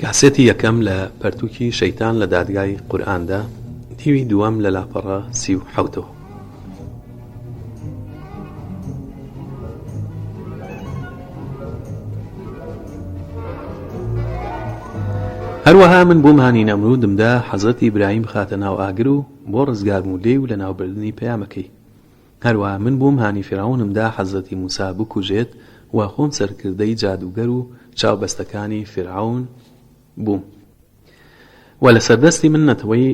Speaker 1: کاسێتی یەکەم لە پەرتووکی شەیتان لە دادگای قورئاندا دیوی دووەم لە لاپەڕە سی و حەوتەوە هەروەها من بۆ مهانی نەمرودمدا حەزرەتی برایم بخاتە ناو ئاگر و بۆ ڕزگارم و لێی و لەناوبردنی پەیامەکەی هەروا من بۆم هانی فیرعەونم دا حەزرەتی موسا بکوژێت و خۆم سەرکردەی جادووگەر و چاو بەستەکانی فیرعەون بووم و لەسەر دەستی من نەتەوەی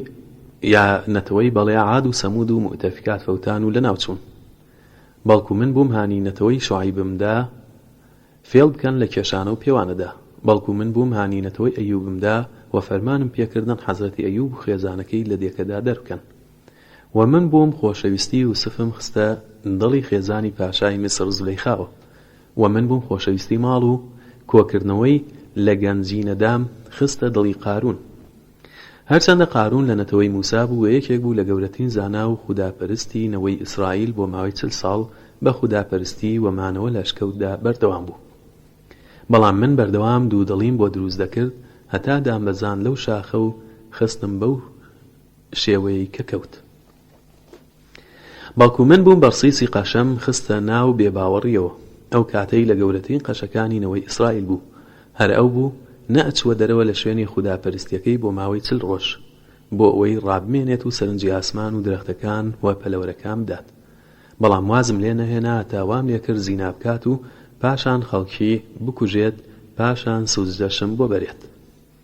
Speaker 1: یا نەتەوەی بەڵێ عاد و سەموود و موئتەفیکات فەوتان و لەناو چوون بەڵکو من بووم هانی نەتەوەی شوعەیبم دا فێڵ بکەن لە کێشانە و پێوانەدا بەڵکو من بووم هانی نەتەوەی ئەیووبم دا و فەرمانم پێکردن حەزرەتی ئەیووب و خێزانەکەی لە دێکەدا دەربکەن و من بووم خۆشەویستی یوسفم خستە دڵی خێزانی پاشای میسر زولەیخاوە و من بووم خۆشەویستی ماڵ و کۆکردنەوەی لە گەنجینەدام خستە دڵی قارون هەرچەندە قارون لە نەتەوەی موسا بوو و یەکێک بوو لە گەورەترین زانا و خودا پەرستی نەوەی ئیسرائیل بۆ ماوەی چل ساڵ بە خودا پەرستی و مانەوە لە شکەوتدا بەردەوام بوو بەڵام من بەردەوام دوودڵیم بۆ دروست دەکرد هەتا دامبەزاند لەو شاخە و خستم بەو شێوەیەی کە کەوت بەڵکو من بووم بەرسیسی قەشەم خستە ناو بێ باوەڕیەوە ئەو کاتەی لە گەورەترین قەشەکانی نەوەی ئیسرائیل بوو هەر ئەو بوو نە ئەچووە دەرەوە لە شوێنی خودا پەرستیەکەی بۆ ماوەی چل ڕۆژ بۆ ئەوەی ڕابمێنێت و سەرنجی ئاسمان و درەختەکان و پەلەوەرەکان بدات بەڵام وازم لێ نەهێنا هەتا وام لێ کرد زینا بکات و پاشان خەڵکی بکوژێت پاشان سوجدەشم بۆ بەرێت.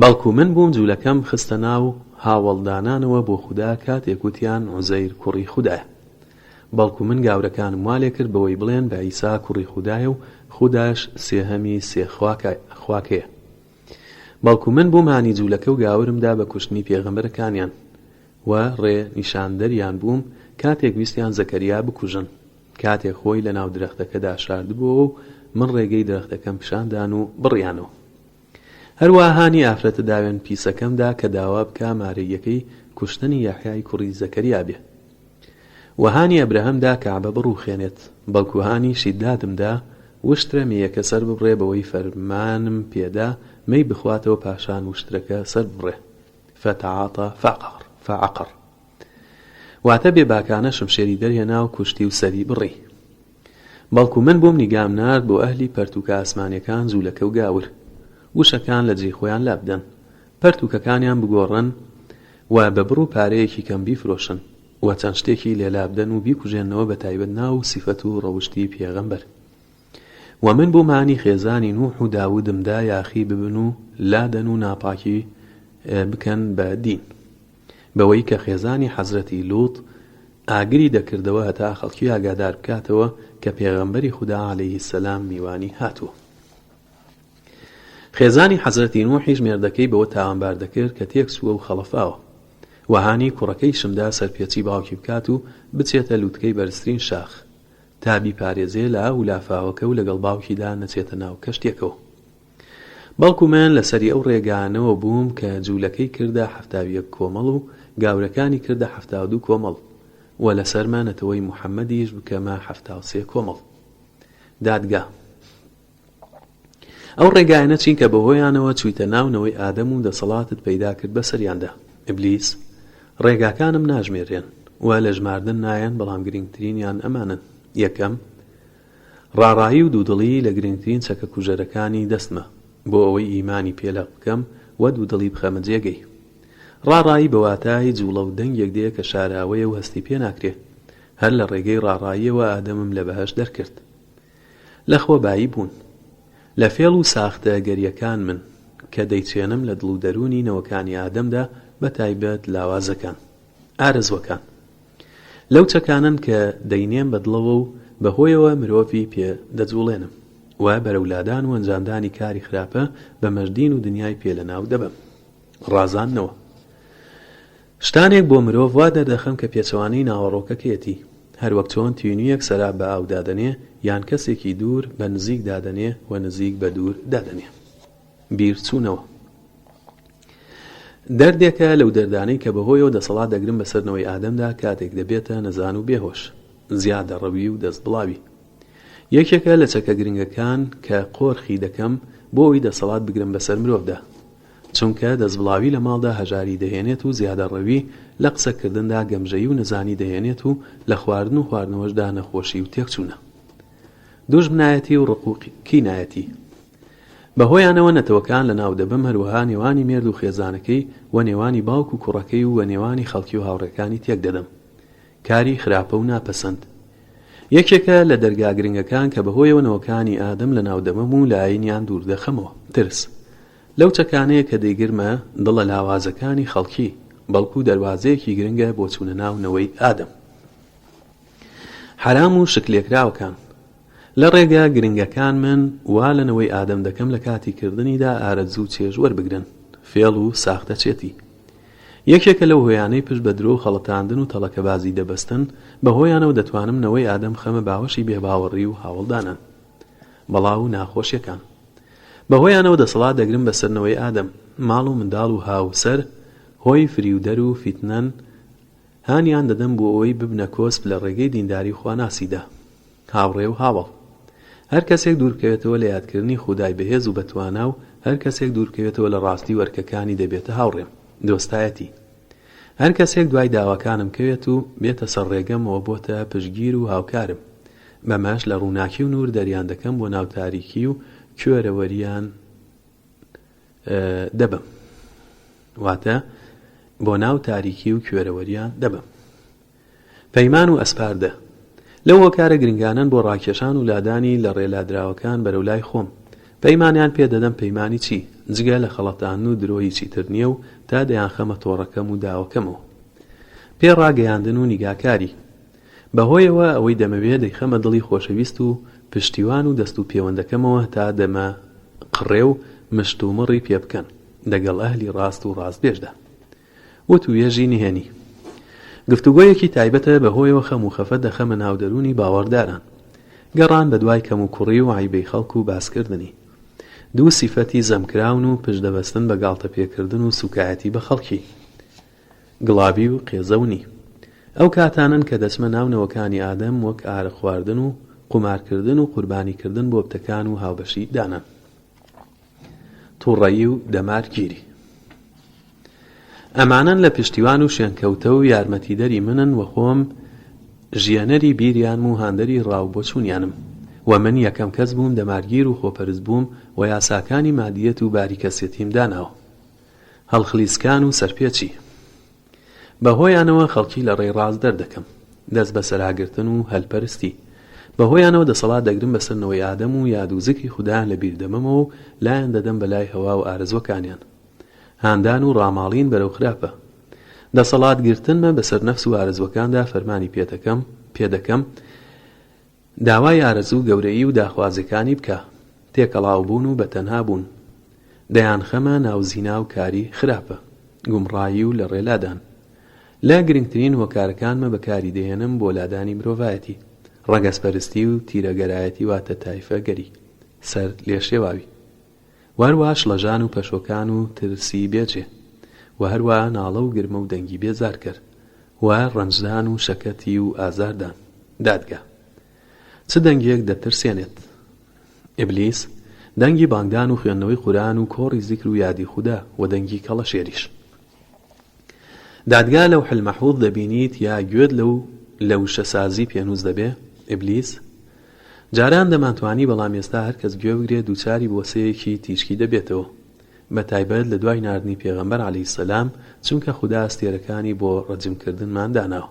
Speaker 1: بەڵکو من بووم جولەکەم خستە ناو هاوەڵدانانەوە بۆ خودا کاتێک وتیان عوزەیر کوڕی خودایە بەڵکو من گاورەکانم وا لێکرد بەوەی بڵێن بە عیسا کوڕی خودایە و خوداش سێهەمی سێ خواکەیە بەڵکو من بووم هانی جولەکە و گاورم دا بە کوشتنی پێغەمبەرەکانیان و ڕێ نیشاندەریان بووم کاتێک ویستیان زەکەریا بکوژن کاتێک خۆی لەناو درەختەکەدا شاردبۆوە و من ڕێگەی درەختەکەم پیشاندان و بڕیانەوە. هەروا هانی ئافرەتە داوێن پیسەکەم دا کە داوا بکا مارەییەکەی کوشتنی یەحیای کوڕی زەکەریا بێ و هانی ئەبرەهەم دا کەعبە بڕووخێنێت، بەڵکوو هانی شیدادم دا وشترە مێیەکە سەر ببڕێ بەوەی فەرمانم پێ دا مێی بخواتەوە پاشان وشترەکە سەر ببڕێ، فتعاطا فعقر، فعقر، واتە بێ باکانە شمشێری دەرهێنا و کوشتی و سەری بڕی. بەڵکو من بووم نیگام نارد بۆ ئەهلی پەرتووکە ئاسمانیەکان جوولەکە و گاور وشەکان لە جێی خۆیان لابدەن پەرتووکەکانیان بگۆڕن و بە بڕ و پارەیەکی کەم بیفرۆشن و چەند شتێکی لێ لابدەن و بیکوژێننەوە بە تایبەت ناو و سیفەت و ڕەوشتی پێغەمبەر و من بووم هانی خێزانی نوح و داودم دا یاخی ببن و لادەن و ناپاکی بکەن بە دین. بەوەی کە خێزانی حەزرەتی لوط ئاگری دەکردەوە هەتا خەڵکی ئاگادار بکاتەوە کە پێغەمبەری خودا علیە السلام میوانی هاتووە. خێزانی حەزرەتی نوحیش مێردەکەی بەوە تاوانبار دەکرد کە تێکچووە و خەڵەفاوە و هانی کوڕەکەیشمدا سەرپێچی باوکی بکات و بچێتە لوتکەی بەرزترین شاخ تا بیپارێزێ لە ئاو و لافاوەکە و لەگەڵ باوکیدا نەچێتە ناو کەشتیەکەوە. بەڵکو من لەسەری ئەو ڕێگانەوە بووم کە جوولەکەی کردە حەفتا و یەک کۆمەڵ و گاورەکانی کردە حەفتا و دوو کۆمەڵ و لەسەرمە نەتەوەی موحەمەدیش بکەمە حەفتا و سێ کۆمەڵ. دادگا. ئەو ڕێگایانە چین کە بەهۆیانەوە چوویتە ناو نەوەی ئادەم و دەسەڵاتت پەیدا کرد بەسەریاندا؟ ئیبلیس. ڕێگاکانم ناژمێررێن و لە ژماردن نایەن بەڵام گرینگترینیان ئەمانەن، یەکەم، ڕاڕایی و دوودڵی لە گرنگترین چەکە کوژەرەکانی دەستمە، بۆ ئەوەی ئیمانی پێ لەق بکەم و دوودڵی بخەمە جێگەی. ڕاڕایی بە واتای جووڵە و دەنگێک دێ کە شاراوەیە و هەستی پێ ناکرێ. هەر لە ڕێگەی ڕاڕاییەوە ئادەمم لە بەهەشت دەرکرد. لە خۆ بایی بوون. لە فێڵ و ساختە گەریەکان من، کە دەیچێنم لە دڵ و دەروونی نەوەکانی ئادەمدا بە تایبەت لاوازەکان. ئارەزووەکان. لەو چەکانەن کە دەینێم بە دڵەوە و بە هۆیەوە مرۆڤی پێ دەجوڵێنم و بەرەو لادان و ئەنجامدانی کاری خراپە بەمەش دین و دنیای پێ لە ناو دەبەم. ڕازاندنەوە. شتانێک بۆ مرۆڤ وا دەردەخەم کە پێچەوانەی ناوەڕۆکەکەیەتی. هەر وەک چۆن تینوویەک سەراب بە ئاو دادەنێ یان کەسێکی دوور بە نزیک دادەنێ و نزیک بە دوور دادەنێ. بیرچوونەوە دەردێکە لەو دەردانەی کە بەهۆیەوە دەسەڵات دەگرن بەسەر نەوەی ئادەمدا کاتێک دەبێتە نەزان و بێهۆش زیادەڕەوی و دەستبڵاوی یەکێکە لە چەکە گرنگەکان کە قۆرخی دەکەم بۆ ئەوی دەسەڵات بگرم بەسەر مرۆڤدا چونکە دەستبڵاوی لە ماڵدا هەژاری دەهێنێت و زیادەڕەوی لە قسەکردندا گەمژەی و نەزانی دەهێنێت و لە خواردن و خواردنەوەشدا نەخۆشی و تێکچوونە دوژمنایەتی و ڕق و کینایەتی بەهۆیانەوە نەتەوەکان لەناو دەبەم هەروەها نێوانی مێرد و خێزانەکەی و نێوانی باوک و کوڕەکەی و نێوانی خەڵکی و هاوڕێکانی تێک دەدەم کاری خراپە و ناپەسەند یەکێکە لە دەرگا گرنگەکان کە بەهۆیەوە نەوەکانی ئادەم لەناو دەبەم و لەئاینیان دوور دەخەمەوە ترس لەو چەکانەیە کە دەیگرمە دڵە لاوازەکانی خەڵکی بەڵکو دەروازەیەکی گرنگە بۆ چوونە ناو نەوەی ئادەم حەرام و شکلێکراوەکان. لە ڕێگا گرنگەکان من وا لە نەوەی ئادەم دەکەم لە کاتی کردنیدا ئارەزوو چێژ وەربگرن. فێڵ و ساختەچێتی یەکێکە لەو هۆیانەی پشت بە درۆ و خەڵەتاندن و تەڵەکەبازی دەبەستن، بە هۆیانەوە دەتوانم نەوەی ئادەم خەمە باوەشی بێباوەڕی و هاوەڵدانان. بەڵا و ناخۆشیەکان بە هۆیانەوە دەسەڵات دەگرم بەسەر نەوەی ئادەم. ماڵ و منداڵ و هاوسەر هۆی فریودەر و فیتنەن هانیان دەدەم بۆ ئەوەی ببنە کۆسپ لە ڕێگەی دینداری خواناسیدا. هاوڕێ و هاوەڵ. هەر کەسێک دووربکەوێتەوە لە یادکردنی خودای بەهێز و بەتوانا و هەر کەسێک دووربکەوێتەوە لە ڕاستی و ئەرکەکانی دەبێتە هاوڕێم. دۆستایەتی. هەر کەسێک دوای داواکانم کەوێت و بێتە سەر ڕێگەم ئەوە بۆتە پشتگیر و هاوکارم. بەمەش لە ڕووناکی و نوور دەریان دەکەم بۆ ناو تاریکی و کوێرەوەریان. دەبەم واتە بۆ ناو تاریکی و کوێرەوەریا دەبەم. پەیمان و ئەسپاردە لەو هۆکارە گرنگانەن بۆ ڕاکێشان و لادانی لە ڕێلادراوەکان بەرەو لای خۆم. پەیمانیان پێ دەدەم پەیمانی چی؟ جگە لە خەڵەتاندن و درۆ هیچی تر نییە و تا دەیانخەمە تۆڕەکەم و داوەکەمەوە. پێ ڕاگەیاندن و نیگاکاری. بەهۆیەوە ئەوەی دەمەوێ دەیخەمە دڵی خۆشەویست و پشتیوان و دەست و پێوەندەکەمەوە هەتا دەمە قڕێ و مشت و مڕی پێ بکەن دەگەڵ ئەهلی ڕاست و ڕاستبێژدا. وتووێژی نهێنی گفتوگۆیەکی تایبەتە بەهۆیەوە خەم و خەفەت دەخەمە ناو دەروونی باوەڕداران. گەڕان بە دوای کەم و کوڕی و عەیبەی خەڵک و باس کردنی. دوو سیفەتی زەم کراون و پشت دەبەستن بە گاڵتە پێ کردن و سووکایەتی بە خەڵکی. گڵابی و قێزەونی ئەو کاتانەن کە دەچمە ناو نەوەکانی ئادەم وەک ئارەق خواردن و قومار کردن و قوربانی کردن بۆ بتەکان و هاوبەشی دانان توڕەیی و دەمار گیری. ئەمانەن لە پشتیوان و شوێنکەوتە و یارمەتیدەری منن وە خۆم ژیەنەری بیریانم و هاندەری ڕا و بۆچونیانم وە من یەکەم کەس بووم دەمارگیر و خۆپەرست بووم وە یاساکانی مادیەت و باری کەسێتیم داناوە. هەڵخلیسکان و سەرپێچی بە هۆیانەوە خەڵکی لە ڕێی ڕاست دەردەکەم، دەست بەسەراگرتن و هەلپەرستی، بە هۆیانەوە دەسەڵات دەگرم بەسەر نەوەی ئادەم و یاد و زکری خودایان لە بیر دەمەمەوە و لایان دەدەم بە لای هەوا و ئارەزوەکانیان. هاندان و ڕاماڵین بەرەو خراپە. دەسەڵات گرتنمە بەسەر نەفس و ئارەزوەکاندا فەرمانی پێدەکەم، پێدەکەم، داوای ئارەزوو گەورەیی و داخوازیەکانی بکە تێکەڵاو بوون و بەتەنها بوون دەیان خەمە ناو زینا و کاری خراپە گومڕایی و لە ڕێ لادان لە گرنگترین هۆکارەکانمە بە کاری دەهێنم بۆ لادانی مرۆڤایەتی ڕەگەز پەرستی و تیرە گەرایەتی واتە تایفە گەری سەر لێشێواوی. و هەروەها شڵەژان و پەشۆکان و ترسی بێ جێ و هەروەها ناڵە و گرمە و دەنگی بێزارکەر و ڕەنجدان و شەکەتی و ئازاردان. دادگا چ دەنگێک دەترسێنێت؟ ئیبلیس، دەنگی بانگدان و خوێندنەوەی قورئان و کۆڕی زیکر و یادی خودا، و دەنگی کەڵەشێریش. دادگا لەوح المحوض دەبینیت یا گوێت لەو لە وشە سازی پێنووس دەبێ ابلیس جاران دەمانتوانی بەڵام ئێستا هەر کەس گوێ بگرێ دووچاری بۆسەیەکی تیشکی دەبێتەوە بە تایبەت لە دوای ناردنی پێغەمبەر علیە سلام چونکە خودا ئەستێرەکانی بۆ ڕەجم کردنمان داناوە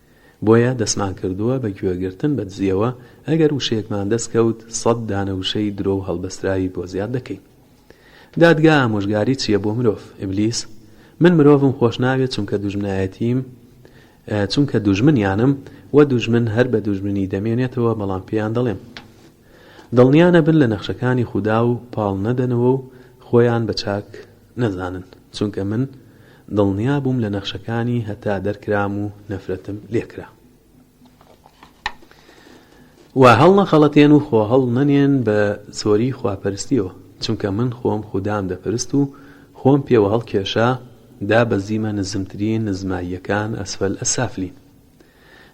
Speaker 1: بۆیە دەستمان کردووە بە گوێگرتن بە دزییەوە، ئەگەر وشەیەکمان دەست کەوت سەد دانە وشەی درۆ و هەڵبەستراوی بۆ زیاد دەکەین. دادگا ئامۆژگاری چییە بۆ مرۆڤ؟ ئیبلیس، من مرۆڤم خۆش ناوێت چونکە دوژمنایەتیم، چونکە دوژمنیانم، وە دوژمن هەر بە دوژمنی دەمێنێتەوە، بەڵام پێیان دەڵێم، دڵنیا نەبن لە نەخشەکانی خودا و پاڵ نەدەنەوە و خۆیان بە چاک نەزانن چونکە من دڵنیا بووم لە نەخشەکانی هەتا دەرکرام و نەفرەتم لێکرا. وا هەڵنەخەڵەتێن و خۆ هەڵنەنێن بە زۆری خواپەرستیەوە چونکە من خۆم خودام دەپرست و خۆم پێوە هەڵکێشا دابەزیمە نزمترین نزماییەکان ئەسفەل ئەسافلین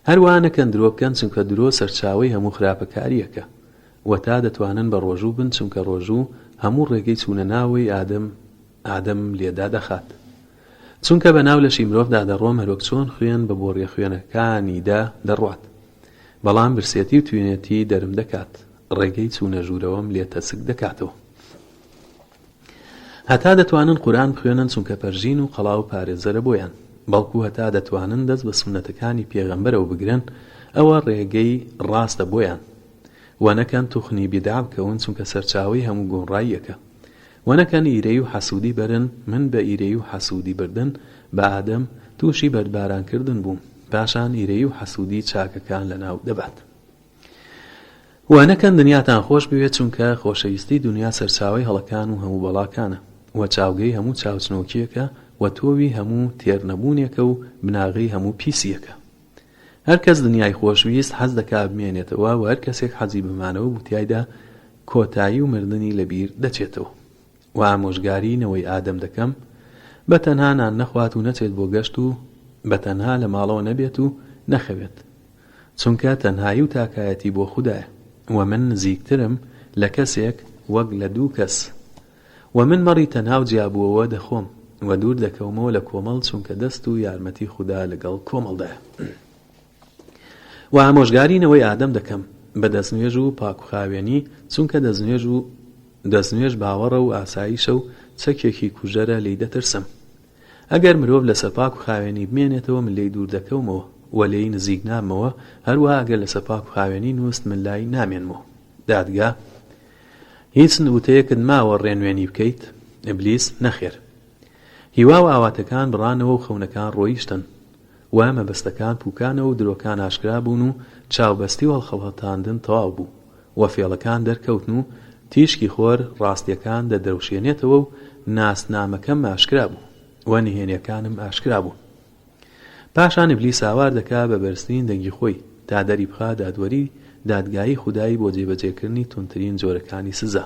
Speaker 1: هەروا نەکەن درۆ بکەن چونکە درۆ سەرچاوەی هەموو خراپەکاریەکە وە تا دەتوانن بە ڕۆژوو بن چونکە ڕۆژوو هەموو ڕێگەی چوونە ناوەی ئادەم ئادەم لێ دادەخات چونکە بە ناو لەشی مرۆڤ دا دەڕۆم هەروەک چۆن خوێن بە بۆڕیە خوێنەکانی دا دەڕوات بەڵام برسێتی و توینێتی دەرم دەکات ڕێگەی چوونە ژوورەوەم لێ تەسک دەکاتەوە هەتا دەتوانن قورئان بخوێنن چونکە پەرژین و قەڵا و پارێزەرە بۆیان بەڵکو هەتا دەتوانن دەست بە سوننەتەکانی پێغەمبەرەوە بگرن ئەوە ڕێگەی ڕاستە بۆیان وە نەکەن توخنی بیدعە بکەون چونکە سەرچاوەی هەموو گومڕاییەکە وە نەکەن ئیرەیی و حەسودی بەرن من بە ئیرەیی و حەسودی بردن بە ئادەم توشی بەردباران کردن بووم پاشان ئیرەیی و حەسودی چاکەکان لەناو دەبات. وانەکەن دنیاتان خۆش بوێت چونکە خۆشەویستی دنیا سەرچاوەی هەڵەکان و هەموو بەڵاکانە و چاوگەی هەموو چاوچنۆکیەکە و تۆوی هەموو تێر نەبوونێکە و بناغەی هەموو پیسیەکە هەر کەس دنیای خۆش ویست حەز دەکا بمێنێتەوە و هەر کەسێک حەزی بە مانەوە بوو تیایدا کۆتایی و مردنی لە بیر دەچێتەوە و ئامۆژگاری نەوەی ئادەم دەکەم بە تەنها نان نەخوات و نەچێت بۆ گەشت و بە تەنها لە ماڵەوە نەبێت و نەخەوێت چونکە تەنهایی و تاکایەتی بۆ خودایە وە من نزیکترم لە کەسێک وەک لە دوو کەس وە من مەڕی تەنها و جیابووەوە دەخۆم وە دوور دەکەومەوە لە کۆمەڵ چونکە دەست و یارمەتی خودا لەگەڵ کۆمەڵدایە وە ئامۆژگاری نەوەی ئادەم دەکەم بە دەستنوێژ و پاکوخاوێنی چونکە دەستنوێژ و دەستنوێژ باوەڕە و ئاسایشە و چەکێکی کوژەرە لێی دەترسم ئەگەر مرۆڤ لەسە پاک و خاوێنی بمێنێتەوە من لێی دوور دەکەومەوە و لێی نزیک نابمەوە، هەروەها ئەگەر لەسە پاک و خاوێنی نوست من لای نامێنمەوە. دادگا، هیچ وتەیەکت ماوە ڕێنوێنی بکەیت؟ ئیبلیس، نەخێر. هیوا و ئاواتەکان بڕانەوە و خەونەکان ڕۆیشتن. وە مەبەستەکان پوکانەوە و درۆکان ئاشکرا بوون و چاو بەستی و هەڵخەڵەتاندن تەواو بوو و فێڵەکان دەرکەوتن و تیشکی خۆر ڕاستیەکان دەدرەوشێنێتەوە و ناسنامەکەم ئاشکرا بوو و نهێنیەکانم ئاشکرا بوون پاشان ئیبلیس هاوار دەکا بە بەرزترین دەنگی خۆی تا دەری بخا دادوەری دادگایی خودای بۆ جێبەجێکردنی توندترین جۆرەکانی سزا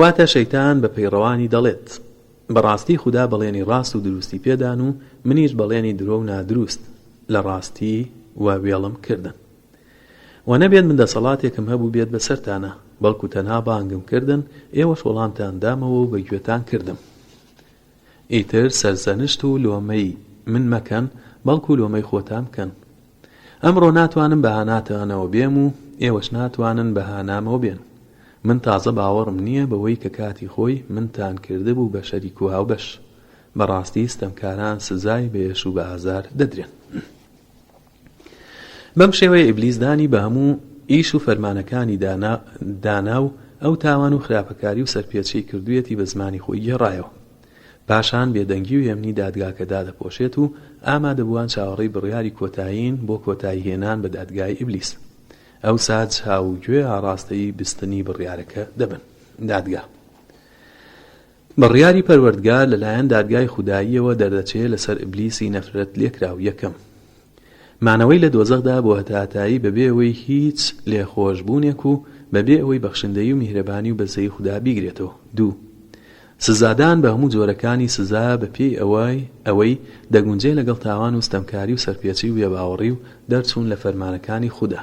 Speaker 1: واتە شەیتان بە پەیڕەوانی دەڵێت، بە ڕاستی خودا بەڵێنی ڕاست و دروستی پێدان و منیش بەڵێنی درۆ و نادروست لە ڕاستی و وێڵم کردن. وە نەبێت من دەسەڵاتێکم هەبووبێت بەسەرتانا، بەڵکو تەنها بانگم کردن، ئێوەش وەڵامتان دامەوە و بە گوێتان کردم. ئیتر سەرزەنشت و لۆمەی من مەکەن، بەڵکو لۆمەی خۆتان بکەن. ئەمڕۆ ناتوانم بە هاناتانەوە بێم و ئێوەش ناتوانن بە هانامەوە بێن. من تازە باوەڕم نییە بەوەی کە کاتی خۆی منتان کردبوو بە شەریک و هاوبەش. بەڕاستی ستەمکاران سزای بە ئێش و بە ئازار دەدرێن. بەم شێوەیە ئیبلیس دانی بە هەموو ئیش و فەرمانەکانی دانا و ئەو تاوان و خراپەکاری و سەرپێچیەی کردویەتی بە زمانی خۆی گێڕایەوە پاشان بێدەنگی و هێمنی دادگاکە دادەپۆشێت و ئامادەبوان چاوەڕێی بڕیاری کۆتایین بۆ کۆتایی هێنان بە دادگای ئیبلیس ئەوسا چاو و گوێ ئاڕاستەی بیستنی بڕیارەکە دەبن دادگا بڕیاری پەروەردگار لەلایەن دادگای خوداییەوە دەردەچێ لەسەر ئیبلیسی نەفرەت لێکراو یەکەم، مانەوەی لە دۆزەخدا بۆ هەتاهەتایی بەبێ ئەوەی هیچ لێخۆشبوونێک و بەبێ ئەوەی بەخشندەیی و میهرەبانی و بەزەیی خودا بیگرێتەوە دوو، سزادان بە هەموو جۆرەکانی سزا بەپێی ئەوەی ئەوەی دەگونجێ لەگەڵ تاوان و ستەمکاری و سەرپێچی و بێباوەڕی و دەرچوون لە فەرمانەکانی خودا.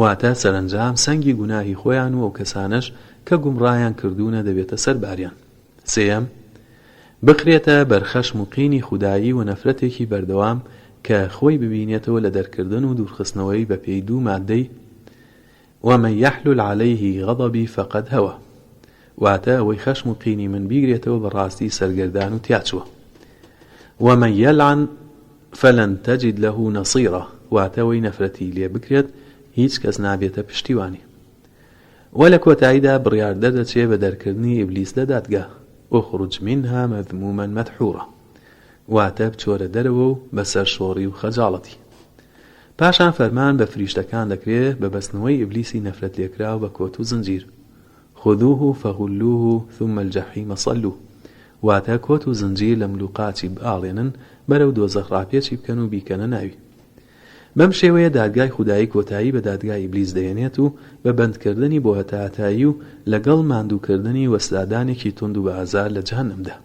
Speaker 1: واتە سەرەنجام سەنگی گوناهی خۆیان و ئەوکەسانەش کە گومڕایان کردوونە دەبێتە سەر باریان سێیەم بخرێتە بەرخەشم و قینی خودایی ونەفرەتێکی بەردەوام کە خۆی ببینێتەوە لە دەرکردن و دوورخستنەوەی بە پێی دوو ماددەی ومن یحلل علیه غضبی فقد هوی واتە ئەوەی خەشم و قینی من بیگرێتەوە بەڕاستی سەرگەردان و تیاچووە ومن یلعن فلن تجد له نصیرا واتە ئەوەی نەفرەتی لێ بکرێت هیچ کەس نابێتە پشتیوانی وە لە کۆتاییدا بڕیار دەردەچێ بە دەرکردنی ئیبلیس لە دادگا اخرج منها مذموما مدحورا واتە بچۆرە دەرەوە و بە سەرشۆڕی و خەجاڵەتی پاشان فەرمان بە فریشتەکان دەکرێ بە بەستنەوەی ئیبلیسی نەفرەت لێکراو بە کۆت و زنجیر خذوه فغلوه ثم الجحیم صلوه واتە کۆت و زنجیر لە مل و قاچی بئاڵێنن بەرەو دۆزەخ ڕاپێچی بکەن و بیکەنە ناوی. بەم شێوەیە دادگای خودایی کۆتایی بە دادگای ئیبلیس دەهێنێت و بە بەندکردنی بۆ هەتاهەتایی و لەگەڵ ماندووکردنی وسزادانێکی توند و بەئازار لە جەهەنەمدا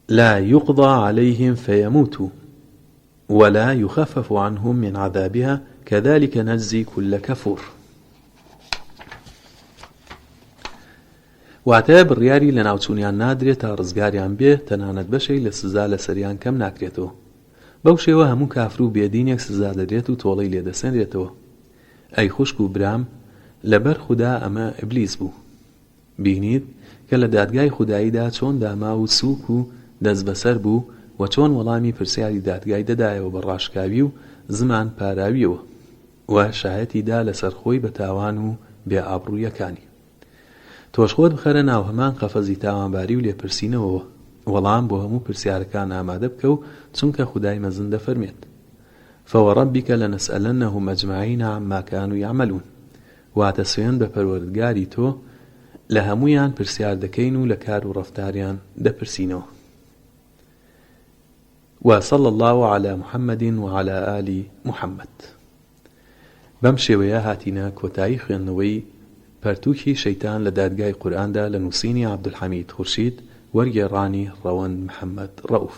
Speaker 1: لا یقضی علیهم فیموتو ولا یخفف عنهم من عذابها کذلک نجزی کل کفور واتە بڕیاری لەناوچوونیان نادرێت تا ڕزگاریان بێ تەنانەت بەشێک لە سزا لەسەریان کەم ناکرێتەوە بەو شێوە هەموو کافر و بێدینێک سزا دەدرێت و تۆڵەی لێ دەسەنرێتەوە ئەی خوشک و برام لەبەر خودا ئەمە ئیبلیس بوو بینیت کە لە دادگای خوداییدا چۆن داماو و سووک و دەستبەسەر بوو و چۆن وەڵامی پرسیاری دادگای دەدایەوە بە ڕاشکاوی و زمان پاراویەوە و شایەتی دا لەسەر خۆی بە تاوان و بێ ئابڕوویەکانی. تۆش خۆت بخەرە ناو هەمان قەفەزی تاوانباری و لێپرسینەوەوە، وەڵام بۆ هەموو پرسیارەکان ئامادە بکە و چونکە خودای مەزن دەفەرمێت، فوربک لنسئلنهم اجمعین عما کانوا یعملون، واتە سوێند بە پەروەردگاری تۆ لە هەموویان پرسیار دەکەین و لە کار و ڕەفتاریان دەپرسینەوە و صلی اللە علی محمد و علی آل محمد بەم شێوەیە هاتینە کۆتایی خوێندنەوەی پەرتووکی شەیتان لە دادگای قورئاندا لە نووسینی عەبدولحەمید خورشید وەرگێڕانی ڕەوەند محەمەد ڕەئوف.